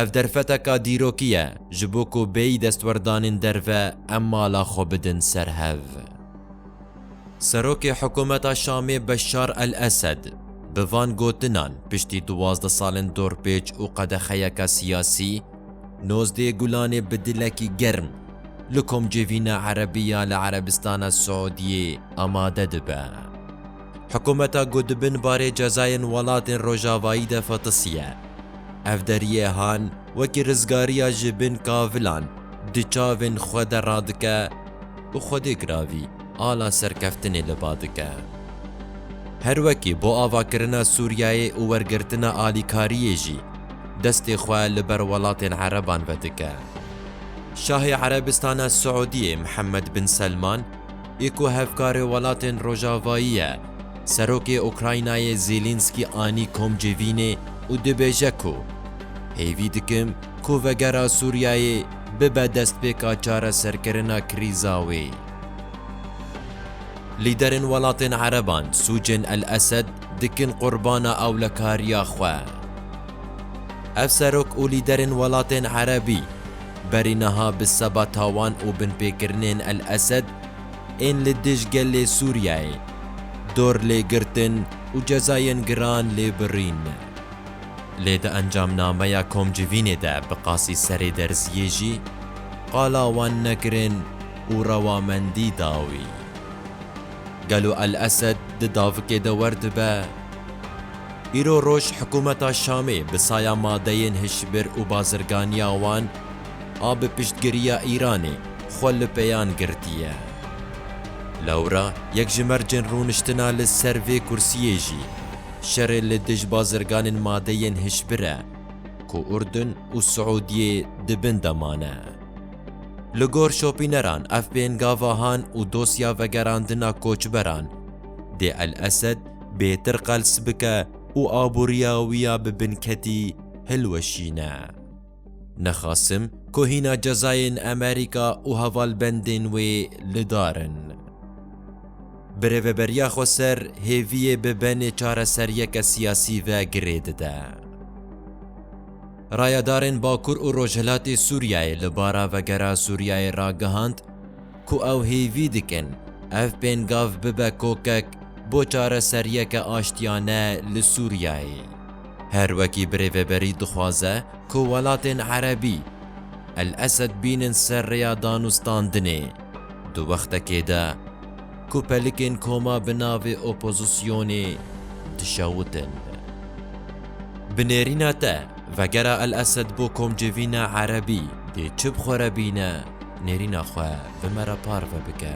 Ev derfeteka dîrokî ye ji bo ku bêyî destwerdanên derve em mala xwe bidin ser hev. Serokê hikûmeta Şamê Beşar El-Esed bi van gotinan piştî duwazdeh salên dorpêç û qedexeyeke siyasî, nozdê Gulanê bi dilekî germ li komcivîna erebî ya li Erebistana Siûdiyê amade dibe. Hikumeta ku di bin barê cezayên welatên rojavayî de fetisiye, ev deriyê han wekî rizgariya ji bin kavilan di çavên xwe de radike û xwedê giravî ala serkeftinê li ba dike. Her wekî bo avakirina Sûriyeyê û wergirtina alîkariyê jî destê xwe li ber welatên ereban vedike. Şahê Erebistana Siûdiyê Mihemed Bin Selman Ê ku hevkarê welatên rojavayî ye, Serokê Ukraynayê Zêlînskî anî kom civînê û dibêje ku, Pêvî dikim ku vegera Sûriyeyê bibe destpêka çareserkirina krîza wê. Lîderên welatên ereban sûcên El-Esed dikin qurbana ewlekariya xwe. Ev serok û lîderên welatên erebî, Berî niha bi seba tawan û binpêkirinên El Esed ên li dij gelê Sûriyeyê, dor lê girtin û cezayên giran lê birîn. Lê di encamnameya komcivînê de bi qasî serê derziyê jî qala wan nekirin û rewamendî da wî. Gelo El Esed di davikê de werdibe? Îro roj hikûmeta Şamê bi saya madeyên hişbir û bazirganiya wan a bi piştgiriya Îranê xwe li pêyan girtiye. Lewra yek ji mercên rûniştina li ser vê kursiyê jî şerê li dij bazirganên madeyên hişbir e ku Urdun û Siûdiyê di bin de mane. Li gor şopîneran ev bên gavahan û dosya vegerandina koçberan dê El Esed bêtir qels bike û aboriya wî ya bi binketî hilweşîne. Nixwasim ku hîna cezayên Amerîka û hevalbendên wê li dar in. Bi rêveberiya xwe ser hêviyê bi benê çareseriyeke siyasî ve girê dide. Rayedarên Bakur û Rojhilatê Sûriyeyê li bara Vegera Sûriyeyê ragihand ku ew hêvî dikin ev pêngav bibe kokek bo çareseriyeke aştiyane li Sûriyeyê. Her wekî birêveberî dixwaze ku welatên Erebî El-Esed bînin ser rêya danûstandinê, di wextekê de, Ku pelikên koma bi navê opozisyonê dişewitin. Bi nêrîna te, vegera El Esed bo komcivîna Erebî dê çi bi xwe re bîne, nêrîna xwe bi me re parve bike.